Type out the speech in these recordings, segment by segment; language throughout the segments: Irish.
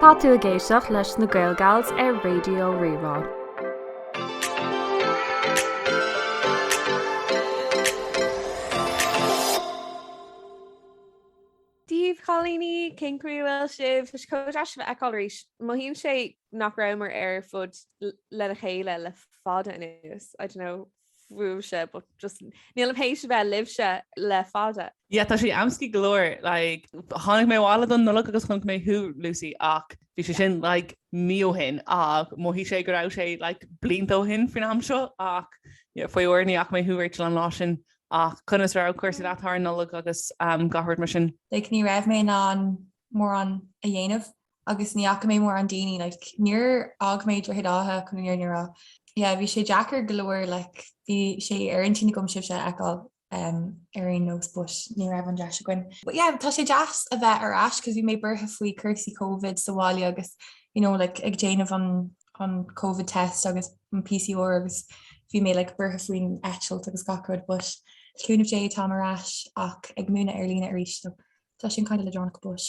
Tá tú ag éisteacht leis na GaelGals ar Raidió Rí-Rá. Dia daoibh a chailíní, cén chaoi a bhfuil sibh? Tá sé chomh deas sibh a fheiceáil arís. Mothaíonn sé nach rabhamar ar fud lena chéile le fada anuas, I don't know, fúibhse but just nílim tar éis a bheith libse le fada. Yeah tá sé aisteach go leor like, tháinig mé abhaile don Nollaig agus chonaic mé thú Lucy ach bhí sé sin like, mí ó shin ach mhothaigh sé go raibh sé like, blianta ó shin faoin am seo ach yeah, faraor ní fhaca mé thú Rachel an lá sin ach conas a raibh cúrsaí leat thar an Nollaig agus um, gach rud mar sin? Like, ní raibh mé in ann mórán a dhéanamh agus ní fhaca mé mórán daoine like níor fhág mé Droichead Átha chun an fhírinne a rá yeah bhí sé deacair go leor like bhí sé ar intinn agam sibhse a fheiceáil um ar aon nós but ní raibh an deis againn. But yeah tá sé deas a bheith ar ais cos bhí mé buartha faoi cúrsaí covid sa bhaile agus you know like ag déanamh an an covid test agus an PCR agus bhí mé like buartha faoin eitilt agus gach rud but le cúnamh Dé táim ar ais ach ag múineadh ar líne arís so tá sin kind of le donacht but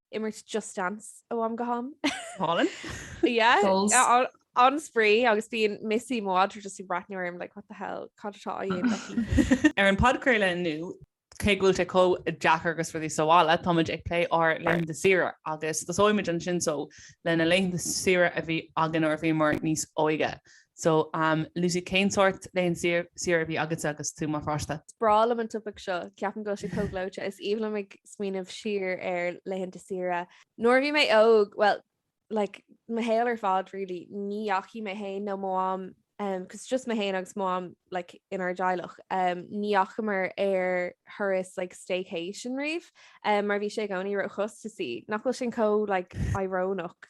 imirt Just Dance ó am go ham. Go hálainn. Yeah. Goals. Uh, an-spraoi agus bíonn Missy mo mhadra just ag bratnú orm like what the hell cad atá á dhéanamh aici? Ar an podchraoladh inniu, cé go bhfuil sé chomh deacair agus muid inár suí sa bhaile, táimid ag plé ar laethanta saoire agus tosóimid ansin so leis na laethanta saoire a bhí againn nuair a bhíomar níos óige. So um Lucy cén sórt laethanta saoire a bhí agatsa agus tú mar pháiste? Is breá liom an topaic seo, ceapaim go bhfuil sé chomh gleoite. Is aoibhinn liom ag smaoineamh siar ar laethanta saoire. Nuair a bhí mé óg, bhuel, like, mo shaol ar fad really, ní dheachaigh mé féin nó mo mham, um cos it's just mé féin agus mo mham like inár dteaghlach, um ní dheachamar ar thuras like staycation riamh um mar bhí sé i gcónaí ró-chostasaí. Nach bhfuil sin chomh like, irónach?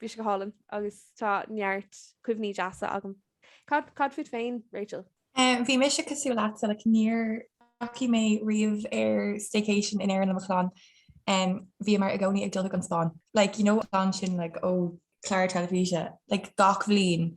Bhí sé go hálainn agus tá neart cuimhní deasa agam. Cad, cad fút féin, Rachel? Bhí mise cosúil leatsa, like níor dheachaigh mé riamh ar staycation in Éirinn le mo chlann. Bhíomar i gcónaí ag dul chuig an Spáinn, like you know ansin like ó clár teilifíse like gach bhliain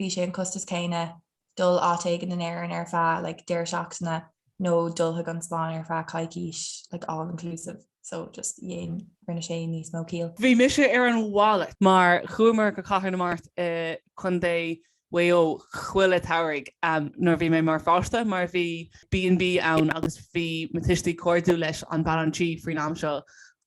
bhí sé an costas céanna dul áit éigin in Éirinn ar feadh like deireadh seachtaine nó dul chuig an Spáinn ar feadh coicíse like all inclusive so just dhéan rinne sé níos mó ciall. Bhí mise ar an mhalairt mar chuamar go Cathair na Mart i Contae Mhaigh Eo chuile samhradh nuair a bhí mé mar pháiste mar bhí B and B ann agus bhí mo thuistí cairdiúil leis an bean an tí faoin am seo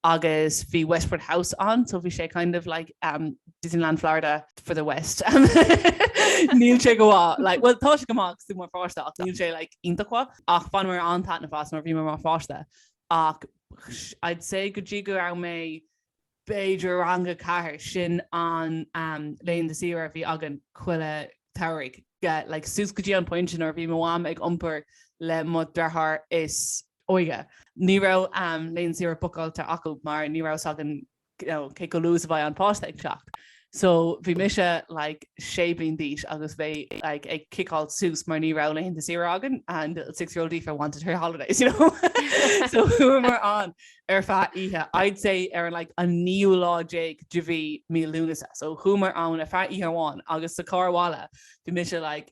agus bhí Westport House ann so bhí sé kind of like um, Disneyland Florida for the West níl sé go like, well tá sé go maith is tú mar pháiste ach níl sé like, iontach ach fan mar an tana fás nuair a bhí mé mar pháiste ach I'd say go dtí go raibh mé b'fhéidir i rang a ceathair sin an um, laethanta saoire a bhí againn chuile tsamhraidh yeah, like, suas go dtí an pointe nuair a bhí mo mham ag iompar le mo dheartháir is óige. Ní raibh laethanta saoire bucáilte acu mar ní raibh a fhios againn cé chomh luath is a bheadh an páiste ag teacht. So bhí mise like sé bliain d'aois agus mé like ag ciceáilt suas mar ní raibh laethanta saoire againn and little six year old Aoife wanted her holidays you know. So chuamar ann ar feadh oíche, I'd say ar an like an naoú lá déag de mhí mí Lúnasa. So chuamar ann ar feadh oíche amháin agus sa carr abhaile bhí mise like,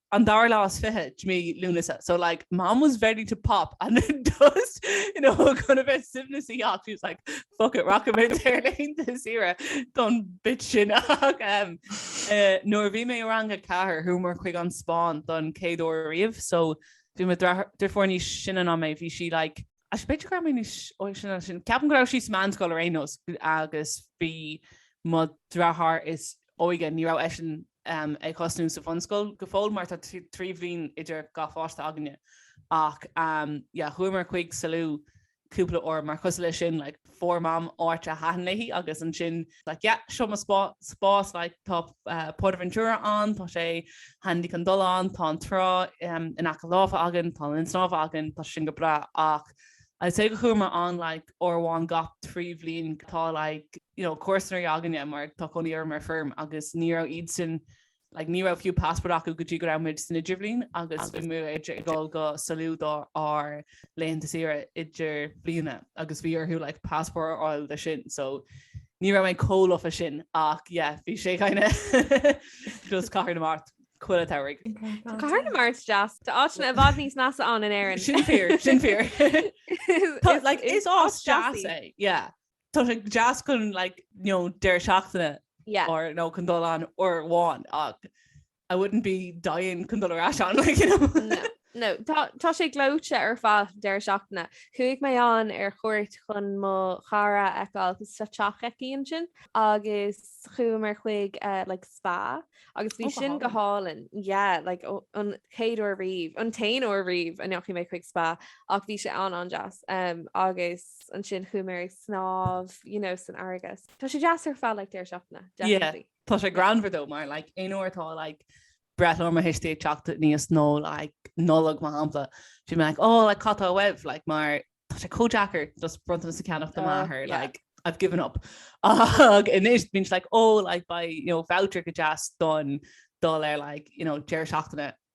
an dara lá is fiche de mhí Lúnasa, so like mom was ready to pop and then just you know gan a bheith suaimhneas a theacht she was like fuck it rachaimid ar laethanta saoire don bit sin ach em eh nuair a bhí mé i rang a ceathair chuamar chuig an Spáinn don chéad uair riamh so bhí mo dra- deirfiúr níos sine ná mé bhí sí like Ach b'fhéidir go raibh mé níos óige ná sin. Ceapaim go raibh sí sa mheánscoil ar aon nós agus bhí mo dhriotháir is óige, ní raibh eisean ag tosnú sa bhunscoil go fóill mar tá trí bhliain idir gach pháiste againne. Ach yeah, chuamar chuig Salou cúpla uair mar cosúil leis sin like fuair mam áit a thaitin léi agus ansin, Like yeah, seo mo spá- spás like tá PortAventura ann, tá sé handy chun dul ann, tá an trá in aice láimhe againn, tá linn snámha againn, tá sin go breá ach I'd say go chuamar ann like uair amháin gach trí bhliain, tá like you know comharsanaí againne mar tá cónaí orm ar feirm agus ní raibh iadsan like ní raibh fiú passport acu go dtí go raibh muid san idirbhliain agus bhí muid ag dul go Salou do ár laethanta saoire idirbhliana agus bhí orthu like passport a fháil do sin so ní raibh mé chomh lofa sin ach yeah bhí sé kind of just Cathair na Mart chuile tsamhraidh. Tá Cathair na Mart deas Tá áiteanna i bhfad níos measa ann in Éirinn. Sin fíor sin fíor like is áit deas é yeah. Tá sé go deas chun like, you know, deireadh seachtaine yeah. or nó chun dul ann uair amháin ach I wouldn't be dying chun dul ar ais ann like, you know. no. No, tá sé gleoite ar feadh deireadh seachtaine. Chuaigh mé ann ar chuairt chun mo chara a fheiceáil agus sa teach aici ansin agus chuamar chuig uh, like, spa agus bhí oh, sin go hálainn yeah, like, oh, an chéad uair riamh an t-aon uair riamh a ndeachaigh mé chuig spa ach bhí sé an- an-deas um, agus ansin chuaigh mé ag snámh you know, san fharraige. Tá sé deas ar fad like, deireadh seachtaine. Yeah. Tá sé greannmhar dó mar like, aon uair atá like, breithlá mo thuistí ag teacht aníos nó like, Nollaig mar shampla, bím like, oh, like, cad tá uaibh? Like, mar tá sé chomh deacair just bronntanas a ceannach do m'athair. Oh, yeah. Like, I've given up. Ach anois bíonn sé like, oh, like, buy, you know, voucher go deas don dul ar like, you know, deireadh seachtaine.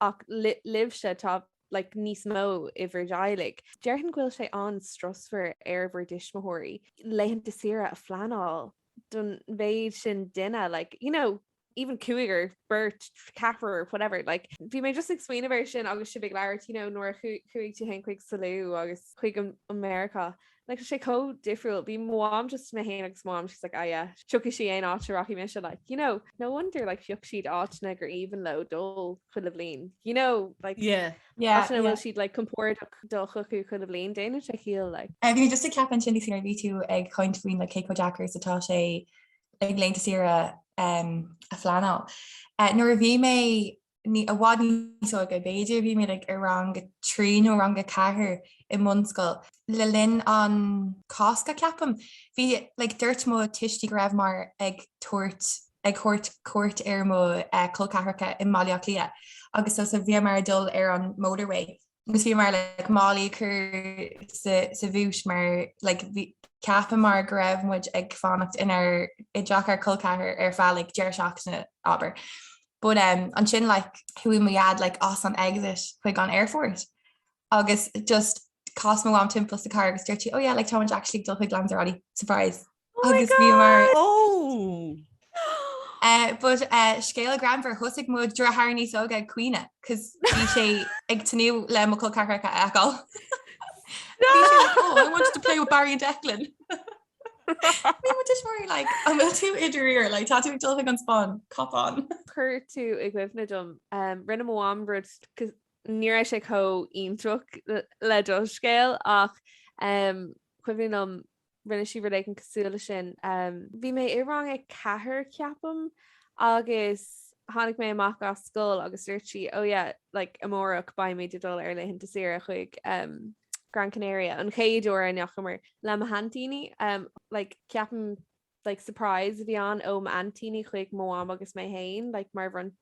ach libhse, tá like níos mó i bhur dteaghlaigh. Déarfainn go bhfuil sé an-strusmhar ar bhur dtuismitheoirí laethanta saoire a phleanáil don mhéid sin duine like you know even cúigear, beirt, ceathrar, or whatever like bhí mé just ag smaoineamh air sin agus sibh ag labhairt you know nuair a chuaigh tú féin chuig Salou agus chuig Meiriceá. Like sé chomh difriúil, bhí mo mham just mé féin agus mo mham she's like ah yeah thiocfaidh sí aon áit a rachaidh mise so you know no wonder like phioc siad áiteanna gur aoibhinn leo dul chuile bhliain you know like yeah yeah áiteanna a bhfuil siad like compordach dul chucu chuile bhliain déanann sé ciall like. Bhí mé just ag ceapadh ansin nuair a bhí tú ag caint faoin like cé chomh deacair is atá sé like laethanta saoire a phleanáil. Nuair a bhí mé i bhfad níos óige, b'fhéidir, bhí mé like, i rang a trí nó rang a ceathair i mbunscoil le linn an Cásca ceapaim. Bhí like, dúirt mo tuistí go rabhamar ag tabhairt ag tabhairt cuairt ar mo uh, col ceathracha i mBaile Átha Cliath agus so, so bhíomar ag dul ar an motorway Agus bhíomar like, málaí cur sa, sa bhút mar like, bhí, cheapamar go raibh muid ag fanacht inár, i dteach ár gcol ceathrair ar feadh like, deireadh seachtaine, abair. But um, ansin like, chuaigh mo dheaid like, as an exit chuig an aerfort agus just chas mo mham timpeall sa charr agus dúirt sí, 'Oh yeah, like, táimid actually ag dul chuig Lanzarote. Surprise! Oh my Agus bhíomar God! Ó! uh, but uh, scéal greannmhar thosaigh mo deartháir níos óga ag caoineadh cos bhí sé ag tnú le mo col ceathracha a fheiceáil. Bhí sé like, oh, I wanted to play with Barry and Declan. Bhí mo thuismitheoirí like, an bhfuil tú i ndáiríre, like, tá tú ag dul chuig an Spáinn, cop on. Chuir tú i gcuimhne dom, um, rinne mo mham rud cos ní raibh sé chomh iontrach le- le do scéal ach um, cuimhin liom rinne sí rud éigin cosúil leis sin. Bhí mé i rang a ceathair, ceapaim, agus tháinig mé amach as scoil agus dúirt sí, Oh yeah, like amárach beimid ag dul ar laethanta saoire chuig Gran Canaria, an chéad uair a ndeachamar, le m'aintíní. Like ceapaim like surprise a bhí ann ó m'aintíní chuig mo mham agus mé féin, like mar bhronn-,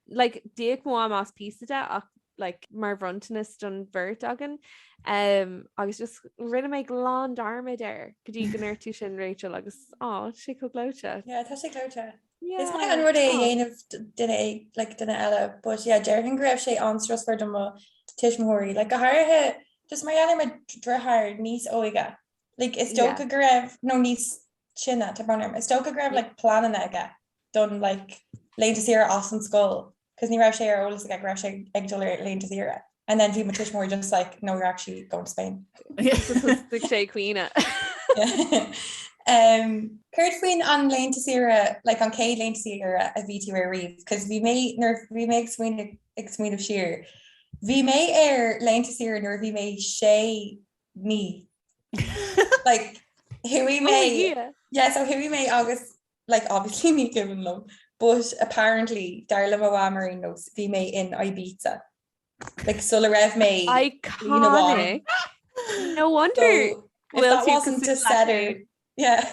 like d'íoc mo mham as píosa de ach like mar bhronntanas don bheirt againn um, agus just rinne mé glan dearmad air go dtí go ndeir tú sin Rachel agus tá sé chomh gleoite. Yeah, tá sé gleoite. Yeah. Is maith an rud é a dhéanamh duine é like duine eile, but yeah, déarfainn go raibh sé an-strusmhar do mo tuismitheoirí, like go háirithe just mar gheall ar mo deartháir níos óige, like is dócha yeah. go raibh nó níos sine tá brón orm, is dócha go raibh like pleananna aige don like laethanta saoire as an scoil 'cause ní raibh sé ar eolas aige go raibh sé ag dul ar laethanta saoire and then bhí mo tuismitheoirí just like, 'no you're actually going to Spain'. Thosaigh sé ag caoineadh. Céard faoin an laethanta saoire, like an chéad laethanta saoire a bhí tú ar riamh? 'Cause bhí mé, nuair bhí mé ag smaoineamh, ag smaoineamh siar, bhí mé ar laethanta saoire nuair a bhí mé sé mí. Like, chuaigh mé, yeah, so chuaigh mé agus like obviously ní cuimhin liom but apparently dar le mo Mham ar aon nós bhí mé in Ibiza like sula raibh mé bliain amháin. No wonder so, if that wasn't a setter yeah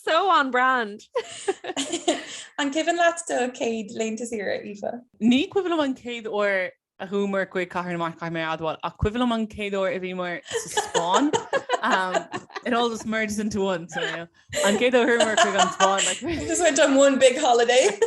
so on brand An cuimhin leat do céad laethanta saoire Aoife? Ní cuimhin liom an céad uair a chuamar chuig Cathair na Mart, caithfidh mé a admháil, ach cuimhin liom an chéad uair a bhíomar sa Spáinn. Um, it all just merges into one, so, yeah. An céad uair a chuamar chuig an Spáinn, like... Just went on one big holiday.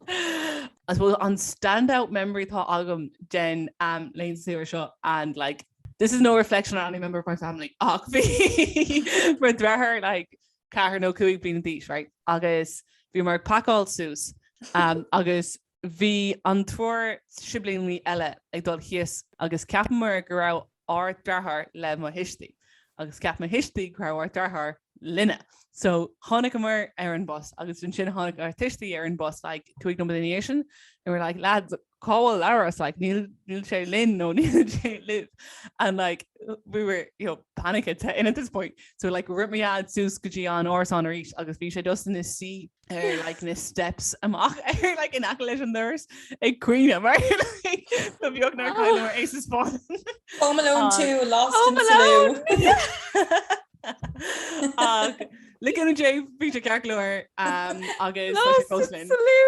I suppose an standout memory atá agam den um, laethanta saoire seo, and like, this is no reflection on any member of my family, ach bhí mo deartháir, like, ceathair nó cúig bliana d'aois, right? Agus bhíomar ag pacáil suas, um, agus Bhí an triúr siblíní eile ag dul thíos agus cheapamar go raibh ár deartháir le mo thuistí agus cheap mo thuistí go raibh ár deartháir linne. So tháinigeamar ar an bus agus ansin tháinig ár tuistí ar an bus like cúig nóiméad ina dhiaidh sin and we're like lads cá bhfuil Labhrás like níl níl sé linn nó níl sé libh and like we were you know panicking and at this point so like rith mo Dhaid suas go dtí an árasán arís agus bhí sé just ina suí ar like, na steps amach ar like, in aice leis an doras ag caoineadh mar ba bheag nár chailleamar é sa Spáinn. Home Alone 2, ah. Lost in Salou. le cúnamh Dé bhí sé ceart go leor um, agus Lost in Salou.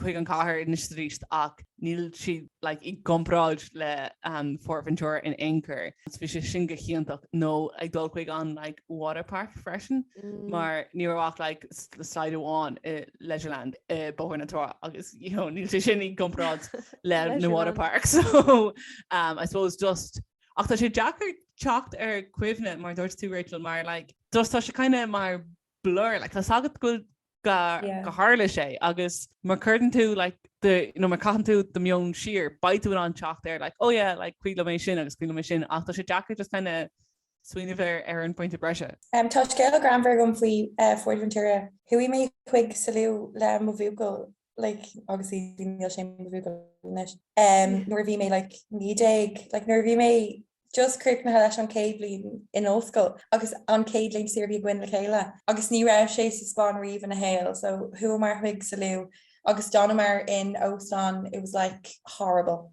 chuig an chathair anois is arís ach níl siad like i gcomparáid le PortAventura in aon chor. So bhí sé sin go hiontach. Nó ag dul chuig an like waterpark freisin mar ní raibh ach like slide amháin i Leisureland i Bóthar na Trá agus you know níl sé sin i gcomparáid le na waterparks. So umm I suppose just ach tá sé deacair teacht ar cuimhne mar a dúirt tú Rachel mar like just tá sé kind of mar blur like tá a fhios agat go bhfuil go go tharla sé agus má cuireann tú like the you know má caitheann tú do meon siar beidh tú in ann teacht ar like oh yeah like cuimhin liom é sin agus cuimhin liom é sin ach tá sé deacair just kind of smaoineamh ar ar an bpointe boise. Um, tá scéal greannmhar agam faoi uh, PhortAventura. Chuaigh mé chuig Salou le mo bhuachaill like, obviously níl sé mo bhuachaill anois nuair a bhí mé like, naoi déag like, nuair a bhí mé just críochnaithe leis an céad bliain in ollscoil agus an céad laethanta saoire a bhí againn le chéile agus ní raibh sé sa Spáinn riamh ina shaol so chuamar chuig Salou agus d'fhanamar in óstán it was like horrible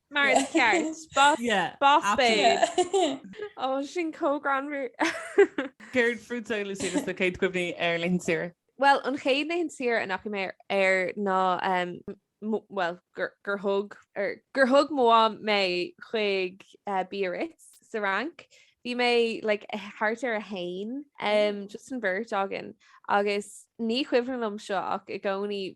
Mar is ceart boss babe sin chomh greannmhar Céard fútsa Lucy agus na céad cuimhní ar laethanta saoire? Bhuel an chéad laethanta saoire a ndeachaigh mé air ná bhuel gur thug gur thug mo mham mé chuig Biarritz sa Fhrainc. Bhí mé like thart ar a haon just an bheirt againn agus ní chuimhin liom seo ach i gcónaí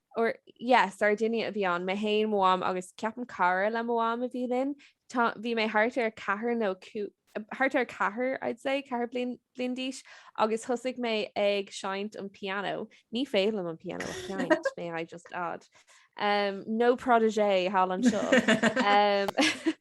or yeah Sardinia a bhí ann, mé féin, mo mham agus ceapaim cara le mo mham a bhí linn. Bhí mé thart ar ceathair nó thart ar ceathair I'd say ceathair bliain bliain d'aois agus thosaigh mé ag seinnt an piano. Ní féidir liom an piano a sheinnt, may I just add. Um, no protégé thall anseo. Um,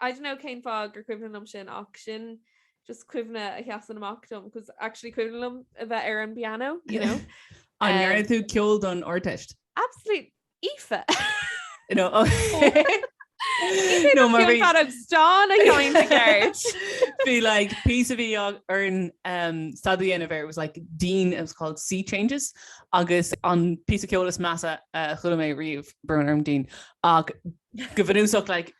I don't know cén fáth gur cuimhin liom sin ach sin just cuimhne a sheasann amach dom cos actually cuimhin liom a bheith ar an bpianó, you know. An ndearna tú ceol don Ardteist? Absolute Aoife! You know, oh. Aoife no, mar bhí fad ag stán a gceann a gceart. Bhí like píosa a bhí orainn um, staidéar a dhéanamh air was like Deane, it was called Sea Changes agus an píosa ceoil is measa a chuala mé riomh brón orm Deane ach go bhunúsach like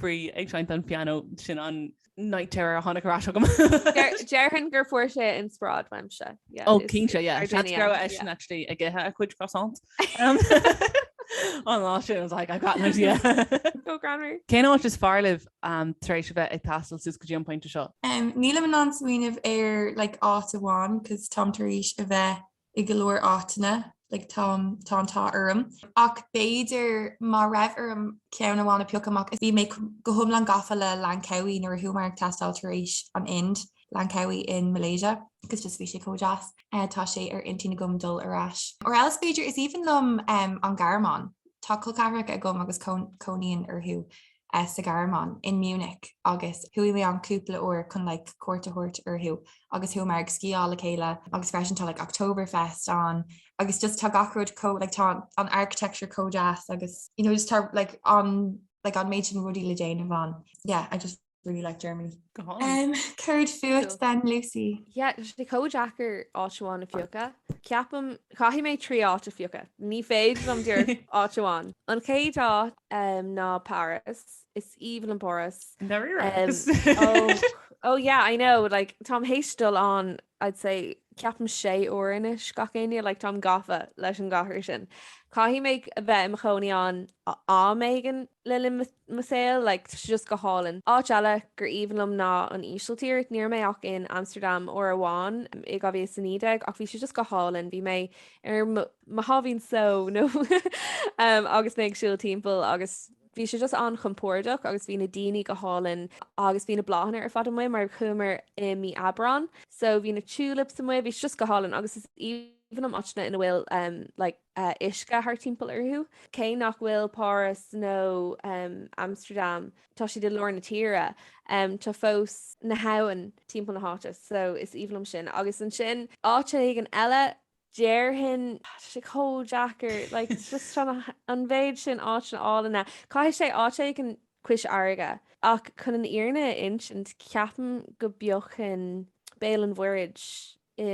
faoi ag seinnt an piano sin an night terror a tháinig ar ais agam. Déarfainn gur fuair sé inspioráid uaimse. Ó cinnte go raibh eisean actually ag ithe a chuid croissant. An lá sin was like I got an idea. Chomh greannmhar. Cén áit is fearr libh tar éis a bheith ag taisteal suas go dtí an pointe seo? Nílim in ann smaoineamh ar like áit amháin cos táim tar éis a bheith i go leor áiteanna, like tá tá an t-ádh orm, ach b'fhéidir má raibh orm ceann amháin a phiocadh amach is bhí mé go hiomlán gafa le Langkawi nuair a chuamar ag taisteal tar éis an Ind, Langkawi in Malaysia, cos just bhí sé chomh deas, tá sé ar intinn agam dul ar ais. Or else b'fhéidir, is aoibhinn liom an Ghearmáin, tá col ceathracha agam agus cónaíonn orthu. sa Ghearmáin, i Munich, agus chuaigh mé ann cúpla uair chun like cuairt a thabhairt orthu agus chuamar ag sciáil le chéile agus freisin tá like Oktoberfest ann agus just tá gach rud chomh like tá an architecture chomh deas agus you know just tá like an like an méid sin rudaí le déanamh ann. Yeah, I just really like Germany. Go hálainn. Um, céard fút then, Lucy? Yeah, tá sé chomh deacair áit amháin a phiocadh. Ceapaim, caithfidh mé trí áit a phiocadh. Ní féidir liom díreach áit amháin. An chéad áit Um, ná Páras. Is aoibhinn liom Páras. I ndáiríre. Um, oh, oh yeah, I know, like, táim tar éis dul ann, I'd say, ceapaim sé uair anois gach éinne, like, táim gafa leis an gcathair sin. Caithfidh mé a bheith im chónaí ann am éigin le linn mo saoil, like, tá sé just go hálainn. Áit eile gur aoibhinn liom ná an Ísiltír. Ní raibh mé ach in Amsterdam uair amháin i 2019 ach bhí sé just go hálainn. Bhí mé ar mo sháimhín só nó agus mé ag siúl timpeall agus bhí sé just an-chompórdach agus bhí na daoine go hálainn agus bhí na bláthanna ar fad amuigh mar chuamar i mí Aibreán so bhí na tulips amuigh bhí just go hálainn agus is aoibhinn liom áiteanna ina bhfuil um, like, uh, uisce thart timpeall orthu. Cé nach bhfuil Páras nó um, Amsterdam tá siad i lár na tíre um, tá fós na habhann timpeall na háite so is aoibhinn liom sin agus ansin áit éigin eile déarfainn, tá sé chomh deacair, like it's just trying to, an mhéid sin áiteanna álainne. Caithfidh sé áit éigin cois fharraige ach chun an fhírinne a insint, ceapaim go bpiocfainn Béal an Mhuirthid i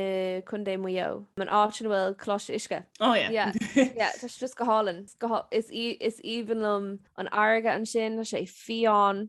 gContae Mhaigh Eo, an áit ina bhfuil Coláiste Uisce. Oh yeah. Yeah, yeah, tá sé just go hálainn. Is aoibhinn liom an fharraige ansin, tá sé fiáin.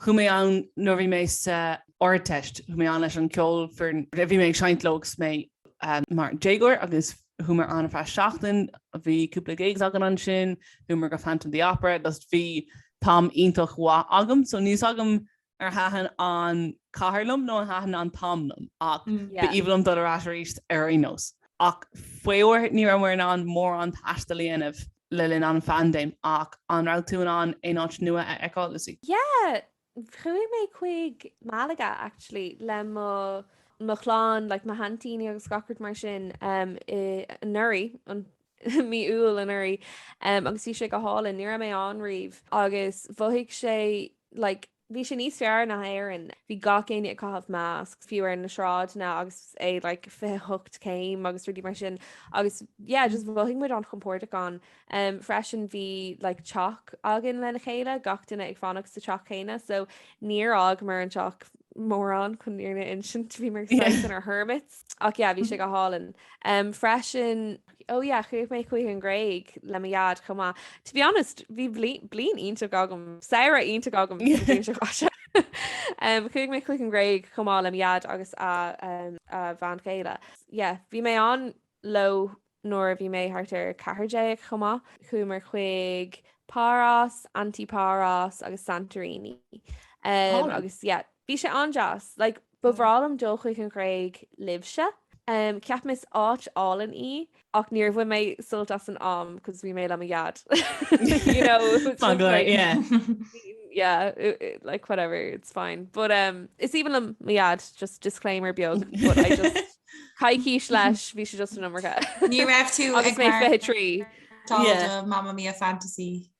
Chuaigh mé ann nuair a bhí mé sa Ardteist. Chuaigh mé ann leis an ceolfhoireann. Bhí mé ag seinnt leo agus mé mar déagóir agus chuamar ann ar feadh seachtain. Bhí cúpla gigs againn ansin. Chuamar go Phantom of the Opera agus bhí t-am iontach mhaith agam. So níl 's agam ar thaitin an chathair liom nó an thaitin an t-am liom ach b'aoibhinn liom dul ar ais arís ar aon nós. Ach faraor ní raibh mé in ann mórán taistil a dhéanamh. le linn an phaindéim, ach an raibh tú in ann aon áit nua a fheiceáil, Lucy? Yeah, chuaigh mé chuig Malaga actually le mo mo chlann, like mo haintíní agus gach rud mar sin um, i anuraidh an mí Iúil anuraidh um, agus bhí sé go hálainn, ní raibh mé ann riamh agus mhothaigh sé like Bhí sé níos fearr ná Éirinn. Bhí gach éinne ag caitheamh masks, fiú ar na sráideanna agus é like 28 céim agus rudaí mar sin agus yeah, just mhothaigh muid an-chompordach ann. Um, freisin bhí like teach againn lena chéile, gach duine ag fanacht sa teach chéanna, so níor fhágamar an teach mórán chun an fhírinne a insint bhíomar Yeah. saghas inár hermits. Ach yeah, bhí sé go hálainn. Um, freisin Oh yeah, chuaigh mé chuig an Ghréig le mo dhaid chomh maith. To be honest, bhí bliain iontach agam, saoire iontach agam. Chuaigh mé chuig an Ghréig chomh maith le mo dhaid agus a bhean chéile. Yeah, bhí mé ann leo nuair a bhí mé thart ar 14 chomh maith. Chuamar chuig Paros, Antiparos agus Santorini. Agus yeah, bhí sé an-deas. Like, Ba bhreá liom dul chuig an Ghréig libhse. Cheap mé is áit álainn í ach níor bhain mé sult as an am cos bhí mé le mo dhaid. You know, yeah, like whatever, it's fine. But is aoibhinn liom mo dhaid, just disclaimer beag, but I just coicís leis bhí sé just an iomarca. Ní raibh tú agus mé 23. Mamma Mia fantasy.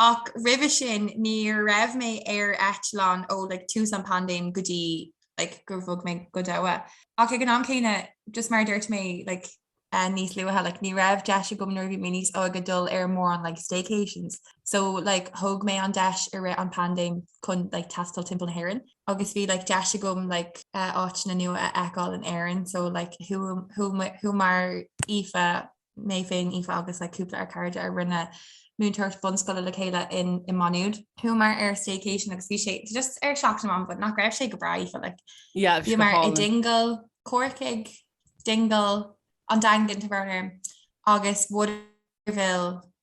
Ach roimhe sin ní raibh mé ar eitleán ó like tús an phaindéim go dtí like gur bhog mé go Doha. Ach ag an am céanna, just mar a dúirt mé like níos luaithe, like ní raibh deis agam nuair a bhí mé níos óige dul ar mórán like staycations. So like thóg mé an deis i rith an phaindéim chun like taisteal timpeall na hÉireann. Agus bhí like deis agam like áiteanna nua a fheiceáil in Éirinn. So like chuamar Aoife mé féin, Aoife agus like cúpla dár gcairde a rinne múinteoireacht bunscoile le chéile in i Maigh Nuad. Chuamar ar staycation agus bhí sé just ar Seacht na mBan but nach raibh sé go breá Aoife like. Yeah, bhí sé go hálainn. Bhíomar i Dingle, Corcaigh, Dingle, an Daingean to be fair, agus Waterville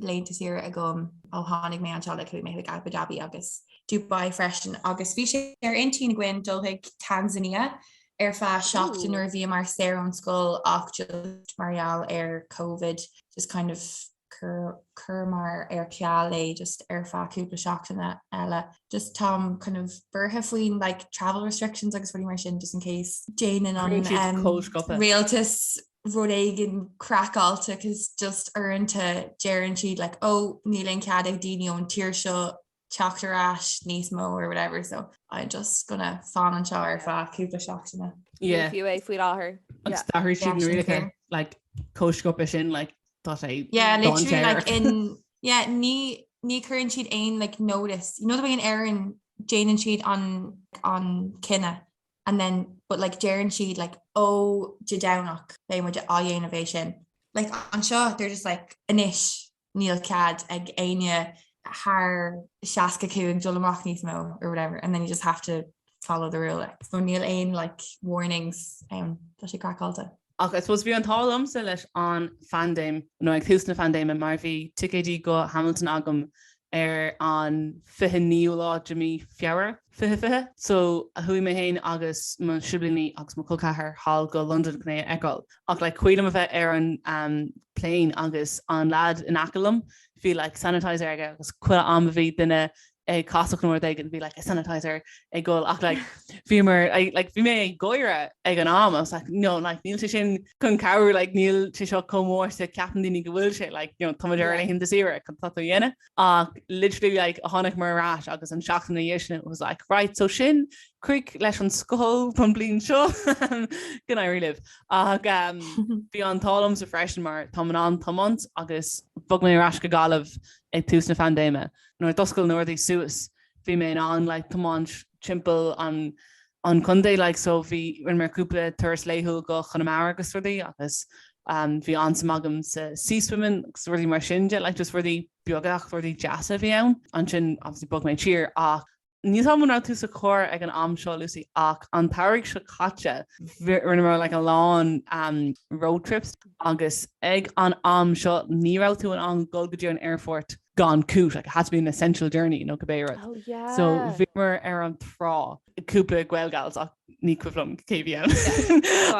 laethanta saoire agam ó tháinig mé anseo like chuaigh mé chuig Abu Dhabi agus Dubai freisin agus bhí sé ar intinn againn dul chuig Tanzania ar feadh seachtain nuair a bhíomar saor ón scoil ach just mar gheall ar Covid just kind of chuireamar ar ceal é just ar feadh cúpla seachtaine eile. Just táim kind of buartha faoin like travel restrictions agus rudaí mar sin just in case déanann an rialtas rud éigin craiceáilte cos just uaireanta deireann siad like oh níl aon chead ag daoine ón tír seo teacht ar ais níos mó or whatever so I'm just gonna fan anseo ar feadh cúpla seachtaine. Yeah. Ní fiú é faoi láthair. Agus d'athraigh siad na rialacha like chomh sciobtha sin like tá sé literally like in yeah ní chuireann siad aon like notice. You know the way in Éirinn déanann siad an an cinneadh and then but like deireann siad like ó Dé Domhnaigh beidh muid á dhéanamh sin. Like anseo they're just like anois níl cead ag éinne thar 65 dul amach níos mó or whatever and then you just have to follow the rule like. So níl aon like warnings ann, tá sé craiceáilte. Ach I suppose bhí an t-ádh liomsa leis an phandéim, nó ag tús na pandéime, mar bhí ticéidí go Hamilton agam ar an 29ú lá de mhí Feabhra, fiche fiche. So chuaigh mé féin agus mo shiblíní agus mo chol ceathar sall go Londain chun é a fheiceáil. Ach like is cuimhin liom a bheith ar an plane agus an lad in aice liom, bhí like sanitizer aige agus chuile am a bhí duine ag casacht nó rud éigin bhí like a sanitizer ag gabháil ach like bhíomar like bhí mé ag gáire ag an am I was like no like níl sé sin chun cabhrú like níl sé seo chomh mór is a cheapann daoine go bhfuil sé like you know táimid ar laethanta saoire céard atá tú a dhéanamh ach literally like tháinig muid ar ais agus an tseachtain ina dhiaidh sin it was like right so sin críoch leis an scoil don bhliain seo go n-éirí libh ach um, bhí an t-ádh liomsa freisin mar táim in ann tiomáint agus bhog mé ar ais go Gaillimh ag tús na pandéime Nuair a d'oscail na rudaí suas bhí mé in ann like tiomáint timpeall an an chontae like so bhí rinneamar cúpla turas laethúil go Conamara agus rudaí agus um bhí an-suim agam sa sea swimming agus rudaí mar sin de like just rudaí beaga ach rudaí deasa a bhí ann. Ansin obviously bhog mé siar ach Níl a fhios agam an raibh tú sa charr ag an am seo Lucy ach an samhradh seo caite rinneamar like a lán road trips agus ag an am seo ní raibh tú in ann dul go dtí an aerfort gan cúis like it has to be an essential journey nó cibé rud. Oh yeah. So bhíomar ar an trá cúpla Gaelgals ach ní cuimhin liom cé a bhí ann.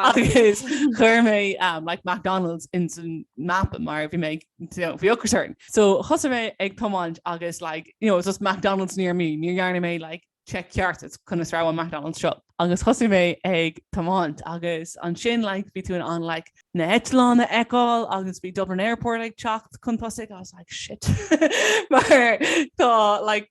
Agus chuir mé um, like McDonald's insan mapa mar bhí mé bhí ocras orm. So thosaigh mé ag tomáint agus like, you know, just McDonald's níor mé, níor dhearna mé like check ceart cén áit a raibh an McDonald's seo. Agus thosaigh mé ag tomáint agus ansin like bhí tú in ann like na heitleáin a fheiceáil agus bhí Dublin Airport ag teacht chun tosaigh. I was like shit mar tá like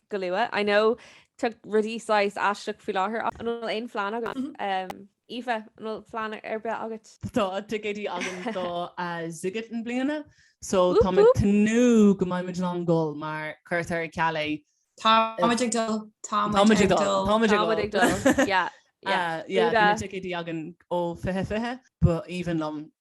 go luath. I know tá rudaí saghas aisteach faoi láthair ach an bhfuil aon phlean agat? Aoife, an bhfuil plean ar bith agat? Tá ticéidí againn do Sziget na bliana so tá mé ag tnúth go mbeidh muid in ann gabháil mura gcuirtear ar ceal é. Tá muid ag dul, tá muid ag dul. Tá muid ag dul, yeah, yeah. Tá na ticéidí againn ó 2020 ba aoibhinn liom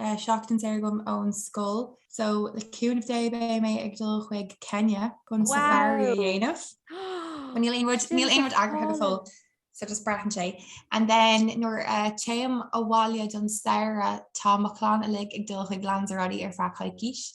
seachtain saor agam ón scoil so le cúnamh Dé beidh mé ag dul chuig Kenya chun safari a dhéanamh. But níl aon rud níl aon rud eagraithe go fóill so just braitheann sé. And then nuair a téim abhaile don samhradh tá mo chlann uilig ag dul chuig Lanzarote ar feadh coicíse.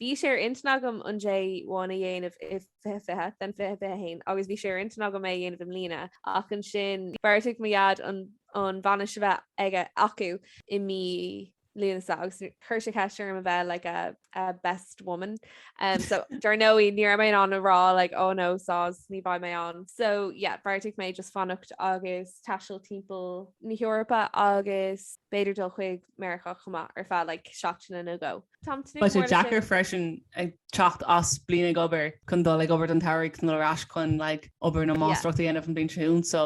Bhí sé ar intinn agam an J1 a dhéanamh i 2020, then 2021, agus bhí sé ar intinn agam é a dhéanamh i mbliana, ach ansin bheartaigh mo Dhaid an bhainis a bheith aige, acu, i mí Lúnasa agus chuir sé ceist orm a bheith like a a best woman um so dar ndóigh ní raibh mé in ann a rá like oh no soz ní bheidh mé ann. So yeah bheartaigh mé just fanacht agus taisteal timpeall na hEorpa agus b'fhéidir dul chuig Meiriceá chomh maith ar feadh like seachtaine nó dhó. Tá sé deacair freisin ag teacht as bliain ag obair chun dul ag obair don tsamhraidh nó ar ais chun like obair nó máistreacht a dhéanamh an bhliain seo chugainn so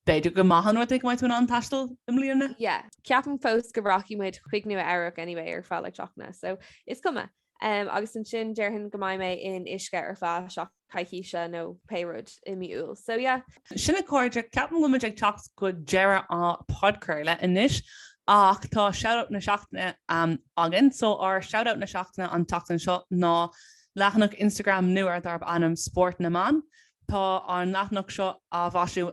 b'fhéidir go maith an rud é go mbeidh tú in ann taisteal i mbliana. Yeah, ceapaim fós go rachaidh muid chuig Nua Eabhrac anyway ar feadh like seachtaine so is cuma. Umm agus ansin déarfainn go mbeidh mé in Uisce ar feadh seachtaine. coicíse nó pé rud i mí Iúil. So yeah. Sin a cairde, ceapaim go bhfuil muid ag teacht go deireadh an podchraoladh anois ach tá Shoutout na Seachtaine againn. So ár Shoutout na Seachtaine an tseachtain seo ná leathanach Instagram nua darb ainm Spórt na mBan. Tá an leathanach seo á mhaisiú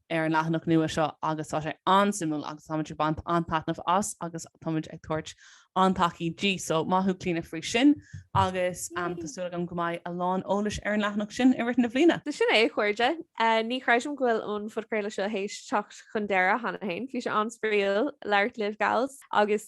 ar an leathanach nua seo agus tá sé an-suimiúil agus táimid ag baint an-taitneamh as agus táimid ag tabhairt an-tacaí di, so maith thú Clíona faoi sin agus tá súil agam go mbeidh a lán eolais ar an leathanach sin i rith na bliana. So sin é, a chairde. Ní chreidim go bhfuil an phodchraoladh seo théis teacht chun deireadh cheana féin. Bhí sé an-spraíúil labhairt libh, gals, agus